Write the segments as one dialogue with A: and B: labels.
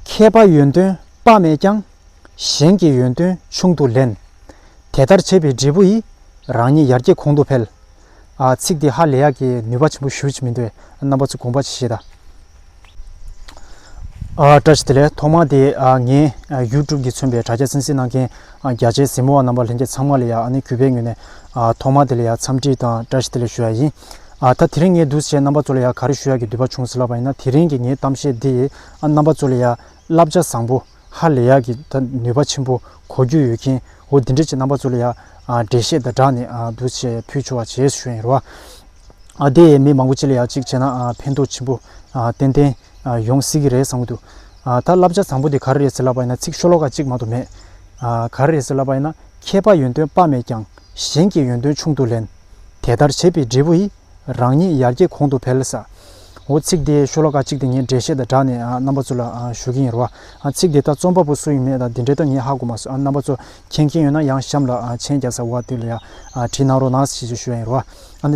A: མཁས་པ་ཡོན་ཏན་དཔག་མེད་ཀྱང། གཞན་གྱི་ཡོན་ཏན་ཆུང་དུ་ལེན། དེ་ལྟར་བྱས་པའི་འབྲས་བུ་ཡིས། རང་ཉིད་ཡར་རྒྱས་གོང་དུ་འཕེལ། ཚིག་འདི་ཧ་ལས་ཡག་གི་ནུས་པ་ཆེན་པོ་ཞུ་ཅི་མི་འདོད་རྣམ་པ་ཚོས་དགོངས་པ་ཅི་བཞེས་དང། བཀྲ་ཤིས་བདེ་ལེགས་ཐོག་མར་དེ་ངའི YouTube གྱི་མཚོན་པའི་དྲ་རྒྱ་སྲིང་སྲིང་གནང་མཁན་རྒྱ་ཆེའི་གཟིགས་མོ་བ་རྣམ་པ་ལྷན་རྒྱས་ཚང་མ་ལ་ཡང་ཨ་ནི་གུས་པའི་ངོས་ནས་ཐོག་མར་དེ་ལ་ཡང་འཚམས་འདྲི་དང་བཀྲ་ཤིས་བདེ་ལེགས་ཞུ་ཡ་ཡིན། ཨ། ད་དེ་རིང་ངས་འདུག་བྱས་རྣམ་པ་ཚོ་ལ་ཡང་ག་རེ་ཞུ་ཡག་གི་འདོད་པ་བྱུང་ཟེར་ལབ་པ་ཡིན་ན་དེ་རིང་གི་ངའི་གཏམ་བཤད་འདི་ཡིས་ཨ་རྣམ་པ་ཚོ་ལ་ཡང་བསླབ་བྱ་བཟང་པོ་ཧ་ལས་ཡག་གི་ད་ནུས་པ་ཆེན་པོ་གོ་རྒྱུ་ཡོད་མཁན་འོ་འདི་འདྲས་ཀྱི་རྣམ་པ་ཚོ་ལ་ཡང་འགྲེལ་བཤད་དང་སྦྲགས་ནས་འདུག་བྱས་ཕུལ་ཆོག་བྱས་ཞུ་ཡིན་རོ། ཨ། དེ་ཡིས་མི་མང་པོ་སྤྱི་ལ་ཡང་ཅིག་བྱས་ན་ཕན་ཐོག་ཆེན་པོ་ཏན་ཏན་ཡོང་སྲིད་ཀྱི་རེད་བསམ་གྱི་འདུག་ད་བསླབ་བྱ་བཟང་པོ་འདི་ག་རེ་རེད་ཟེར་ལབ་པ་ཡིན་ན་ཚིག་ཤོ་ལོ་ཀ་གཅིག་མང་དུ་མེད། ག་རེ་རེད་ཟེར་ལབ་པ་ཡིན་ན་མཁས་པ་ཡོན་ཏོན་དཔག་མེད་ཀྱང་གཞན་གྱི་ཡོན་ཏོན་ཆུང་དུ་ལེན། དེ་ལྟར་བྱས་པའི་འབྲས་བུ་ཡིས། རང་ཉིད་ཡར་རྒྱས་གོང་དུ་འཕེལ། ཟའོ། ཚིག་དེའི་ཤོ་ལོ་ཀ་གཅིག་དེ་ངས་འགྲེལ་བཤད་དང་སྦྲགས་ནས་རྣམ་པ་ཚོ་ལ་ཞུ་གི་ཡིན་རོ། ཚིག་དེ་ལྟར་རྩོམ་པ་པོ་སུ་ཡིན་མེད་དང་འདི་འགྲེལ་དང་ངས་ཧ་གོ་མ་སོགས་རྣམ་པ་ཚོ་མཁྱེན་མཁན་ཡོད་ན་ཡང་གཤམ་ལ་མཆན་རྒྱག་ས་འོག་ཏུ་ལ་བྲིས་གནང་རོགས་གནང་ཞེས་ཞུ་ཡ་ཡིན་རོ།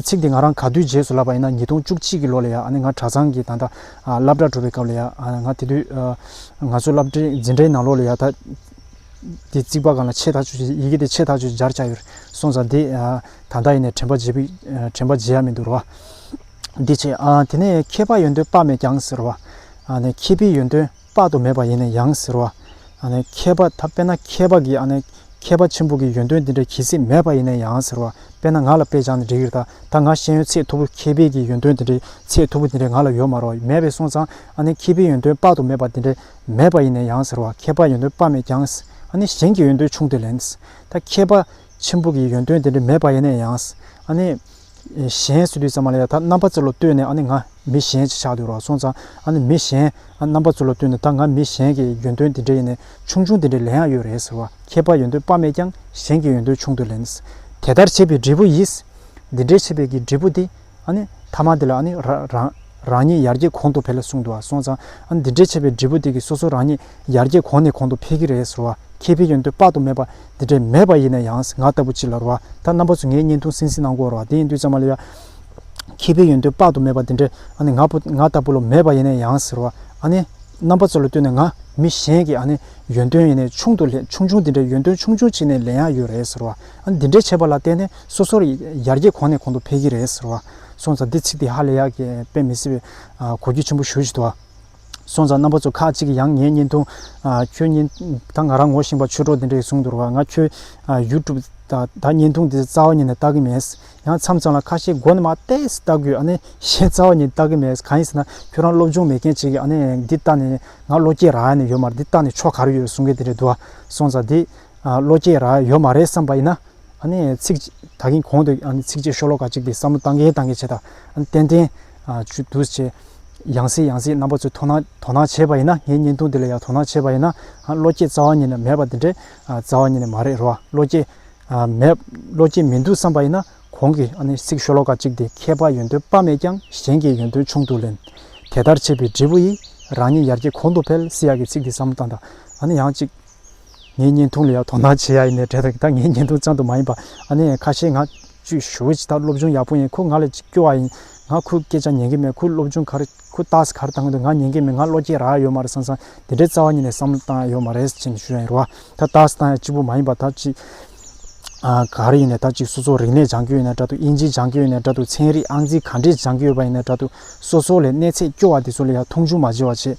A: ཚིག་དེ་ང་རང་ག་དུས་རྗེས་སུ་བསླབས་པ་ཡིན་ན་ཉིས་སྟོང་བཅུ་གཅིག་གི་ལོ་ལ་ཡང་ང་གྲྭ་ཚང་གི་ད་ལྟ་བསླབ་གྲྭར་གྲུབ་པའི་སྐབས་ལ་ཡང་ང་དེ་དུས་ང་ཚོའི་བསླབ་གྲྭའི་འཛིན་གྲྭའི་ནང་ལོགས་ལ་ཡང་ད། དེ་རྩིག་པ་གང་ལ་ཆེས་ཐག་ཆོད་ཀྱི་ཡི་གེ་དེ་ཆེས་ཐག་ཆོད་ཀྱི་སྦྱར་བྱ་ཡོད་གསུངས་ཙང་དེ་ད་ལྟ་ཡིན་ནས་དྲན་པ་བརྗེད་པའི་དྲན་པ་བརྗེད་ཡ་མི་འདུག་རོ། འདི་བྱས། དེ་ནས་མཁས་པ་ཡོན་ཏན་དཔག་མེད་ཀྱང་ཟེར་རོ། མཁས་པའི་ཡོན་ཏན་དཔག་ཏུ་མེད་པ་ཡིན་ནས་ཡང་ཟེར་རོ། མཁས་པ་ད་དཔེར་ན་མཁས་པ་གིས་མཁས་པ་ཆེན་པོ་གི་ཡོན་ཏན་འདི་འདྲ་གྱིས་སྲིད་མེད་པ་ཡིན་ནས་ཡང་ཟེར་རོ། དཔེར་ན་ང་ལ་དཔེ་བྱང་ནས་འགྲིག་རེད་ད་ད་ང་ཤེས་ཡོན་ཚད་མཐོ་པོ་མཁས་པའི་གི་ཡོན་ཏན་འདི་འདྲའི་ཚད་མཐོ་པོ་འདི་འདྲའི་ང་ལ་ཡོད་མ་རོ་མེད་པས་གསུངས་ཙང། མཁས་པའི་ཡོན་ཏན་དཔག་ཏུ་མེད་པ་འདི་འདྲའི། མེད་པ་ཡིན་ནས་ཡང་ཟེར་བ་མཁས་པ་ཡོན་ཏན་དཔག་མེད་ཀྱང་ཨ་ནི་གཞན་གྱི་ཡོན་ཏན་ཆུང་དུ་ལེན། ད་མཁས་པ་ཆེན་པོ་གི་ཡོན་ཏན་དེ་འདྲ་མེད་པ་ཡིན་ནས་ཡང་ཨ་ནི། གཞན་སུ་དུས་ཙམ་མ་ལ་ཡང་ད་རྣམ་པ་ཚོ་ལ་ལྟོས་ནས་ཨ་ནི་ང་མི་གཞན་ཅེས་བྱ་འདུག་རོགས་སོང་ཙང་ཨ་ནི་མི་གཞན་རྣམ་པ་ཚོ་ལ་ལྟོས་ནས་ད་ང་མི་གཞན་གྱི་ཡོན་ཏན་དེ་འདྲ་ཡིན་ནས་ཆུང་ཆུང་དེ་འདྲ་ལེན་ཡག་ཡོད་རེད་ཟེར་བ་མཁས་པ་ཡོན་ཏན་དཔག་མེད་ཀྱང་གཞན་གྱི་ཡོན་ཏན་ཆུང་དུ་ལེན། དེ་ལྟར་བྱེད་པའི་འབྲས་བུ་ཡིས། འདི་འདྲའི་བྱེད་པའི་གི་འབྲས་བུ་དེ། ཨ་ནི། ཐ་མ་དེ་ལ་ཨ་ནི། རང། རང་ཉིད་ཡར་རྒྱས་གོང་དུ་འཕེལ་ལ་གསུངས་འདུག་ཨ་སོང་ཙང། ཨ་ནི་འདི་འདྲའི་ཆེ་བའི་འབྲས་བུ་དེ་གིས་སོ་སོ་རང་ཉིད་ཡར་རྒྱས་གོང་ནས་གོང་དུ་འཕེལ་གྱི་རེད་ཟེར་བ་ཁེ་ཕི་ཡོན་ཏོས་དཔག་ཏུ་མེད་པ་འདི་འདྲས་མེད་པ་ཡིན་ན་ཡང་ང་ལྟ་བུ་གཅིག་ལ་རུ་བ་ད་རྣམ་པ་ཚོས་ངའི་བརྙན་ཐུང་སིང་སིང་ནང་བསྐོར་བ་དེ་ཡིན་དུས་ཙང་མ་ལ་ཡ། ཁེ་ཕི་ཡོན་ཏོས་དཔག་ཏུ་མེད་པ་འདི་འདྲས་ཨ་ནི་ང་ཕོ་ང་ལྟ་བུ་ལོ་མེད་པ་ཡིན་ན་ཡང་ཟེར་བ་ཨ་ནི། རྣམ་པ་ཚོ་ལ་ལྟོས་ནས་ང་མི་གཞན་གྱི་ཨ་ནི། ཡོན་ཏོན་ཡིན་ནས་ཆུང་དུ་ལས་ཆུང་ཆུང་འདི་འདྲས་ཡོན་ཏོན་ཆུང་ཆུང་ཅིག་ནས་ལེན་ཡག་ཡོད་རེད་ཟེར་བ། འདི་འདྲའི་བྱེད་པ་ལ་བརྟེན་ནས་སོ་སོར་ཡར་རྒྱས་གོང་ནས་གོང་དུ་འཕེལ་གྱི་རེད་ཟེར་བ། སོང་ཙང་འདི་ཚིག་འདི་ཧ་ལས་ཡག་གི་དཔེ་མི་སྲིད་པའི་གོ་རྒྱུ་ཆེན་པོ་ཞུ་བཞིན་འདུག་ཨ། སོང་ཙང་རྣམ་པ་ཚོ་ཁག་ཅིག་གིས་ཡང་ངའི་བརྙན་ཐུང། ཁྱོད་བརྙན་ད་ང་རང་ངོ་ཤེས་པར་ཆོས་གྲོགས་འདི་འདྲ་ཞིག་གསུངས་འདུག་ང་ཁྱོད YouTube ད་བརྙན་ཐུང་འདི་རྩ་བ་ཉིད་ནས་ལྟ་གི་མེད། ཡང་མཚམས་མཚམས་ལ་ཁ་ཤས་མགོ་ནས་མ་བལྟས་ལྟ་དགོས་ཨ་ནི་གཞན་རྩ་བ་ཉིད་ལྟ་གི་མེད་གང་ཡིན་ཟེར་ན་ཁྱོད་རང་སློབ་སྦྱོང་མེད་མཁན་ཅིག་གིས་ཨ་ནི་འདི་ལྟ་ནས་ང་བློ་སྐྱེད་རག་ནས་ཡོད་མ་རེད་འདི་ལྟ་ནས་ཕྱོགས་ག་རེ་ཡོད་གསུང་མཁན་དེ་འདྲ་འདུག་ཨ། སོང་ཙང་འདི། བློ་སྐྱེས་ར་ཡོད་མ་རེད་བསམ་པ་ཡིན་ན། ཚིག། ད་གིན་གོང་དུ་ཚིག་བཅད་ཤོ་ལོ་ཀ་གཅིག་པའི་བསམ་བློ་བཏང་གིན་བཏང་གིན་བྱས་དང་ཏན་ཏན། ཆུ་དུས་ཆེ། ཡང་སྲིད་ཡང་སྲིད་རྣམ་པ་ཚོས་དོ་སྣང་དོ་སྣང་བྱས་པ་ཡིན་ན་ངའི་བརྙན་ཐུང་འདི་ལ་ཡང་དོ་སྣང་བྱས་པ་ཡིན་ན། བློ་སྐྱེས་རྩ་བ་ཉིད་ནས་མེད་པ་འདི་འདྲའི་རྩ་བ་ཉིད་ནས་མ་རེད་རོ། བློ་སྐྱེས། མེད། བློ་སྐྱེས་མི་འདུག་བསམ་པ་ཡིན་ན་གོང་གི་ཚིག་ཤོ་ལོ་ཀ་གཅིག་དེ་མཁས་པ་ཡོན་ཏོན་དཔག་མེད་ཀྱང་གཞན་གྱི་ཡོན་ཏོན་ཆུང་དུ་ལེན། དེ་ལྟར་བྱས་པའི་འབྲས་བུ་ཡིས་རང་ཉིད་ཡར་རྒྱས་གོང་དུ་འཕེལ་སྲིད་ཡག་གི་ཚིག་འདི་བསམ་བློ་བཏང་དང། ཡང་གཅིག། ངའི་བརྙན་ཐུང་ལ་ཡང་དོ་སྣང་བྱེད་ཡ་ཡིན་ནའི་དྲན་ཐོག་ད་ངའི་བརྙན་ཐུང་ཅང་དུ་མ་ཡིན་པ་ཨ་ནེ་ཁ་ཤས་ང་བཅུས་ཞུ་བྱས་ད་སློབ་སྦྱོང་ཡག་པོ་ཡིན་ཁོ་ང་ལ་ཅིག་སྐྱོ་བ་ཡིན་ང་ཁོའི་སྐད་ཆ་ཉན་གི་མེད་ཁོའི་སློབ་སྦྱོང་གར་ཁོའི་རྟགས་གར་བཏང་དུ་ང་ཉན་གི་མེད་ང་བློ་སྐྱེད་རག་ཡོད་མ་རེད་སང་སང་དེ་འདྲའི་རྩ་བ་ཉིད་ནས་བསམ་བློ་བཏང་ཡ་ཡོད་མ་རེད་ཅེས་ཞུ་ཡ་ཡིན་རུ་བ་ད་རྟགས་བཏང་ཡ་གཅིག་པུ་མ་ཡིན་པ་ད་ཅིག་གར་ཡིན་ནའི་ད་ཅིག་སོ་སོ་རིག་གནས་སྦྱང་གི་ཡོད་ནའི་དྲ་ཐུག་དབྱིན་ཇི་སྦྱང་གི་ཡོད་ནའི་དྲ་ཐུག་ཚན་རིག་ཨང་རྩིས་ག་འདྲས་སྦྱང་གི་ཡོད་པ་ཡིན་ནའི་དྲ་ཐུག་སོ་སོ་ལས་གནས་ཚད་སྐྱོ་བ་དེ་ཚོ་ལ་ཡང་མཐོང་ཆུང་མ་བྱེད་བ་བྱེད་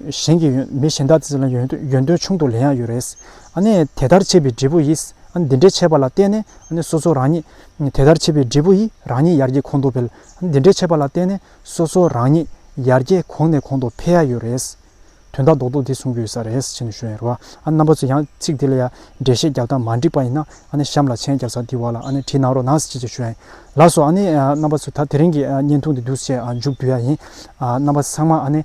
A: གཞན་གྱི་མི་གཞན་དག་དེ་ཚོ་ལ་ཡོན་ཏན་ཆུང་དུ་ལེན་ཡག་ཡོད་རེད། དེ་ལྟར་བྱེད་པའི་འབྲས་བུ་ཡིས་འདི་འདྲའི་བྱས་པ་ལ་བརྟེན་ནས་སོ་སོ་རང་ཉིད། དེ་ལྟར་བྱེད་པའི་འབྲས་བུ་ཡིས་རང་ཉིད་ཡར་རྒྱས་གོང་དུ་འཕེལ། འདི་འདྲའི་བྱས་པ་ལ་བརྟེན་ནས་སོ་སོ་རང་ཉིད་ཡར་རྒྱས་གོང་ནས་གོང་དུ་འཕེལ་ཡག་ཡོད་རེད། དོན་དག་རྡོག་རྡོག་འདི་གསུང་གི་ཡོད་ས་རེད་ཅེས་ནས་ཞུས་ཡོད་རེད། རྣམ་པ་ཚོས་ཡང་ཚིག་འདི་ལ་ཡང་འགྲེལ་བཤད་རྒྱག་སྟངས་མ་འགྲིག་པ་ཡིན་ན་གཤམ་ལ་མཆན་རྒྱབ་སར་འདི་བར་ལ་བྲིས་གནང་རོགས་གནང་ཞེས་ཞུས་ཡོད་ལགས་སོ། རྣམ་པ་ཚོས་ད་དེ་རིང་གི་བརྙན་ཐུང་འདི་བསྡུ་བྱེད་མཇུག་བསྡུ་ཡག་ཡིན། རྣམ་པ་ཚང་མ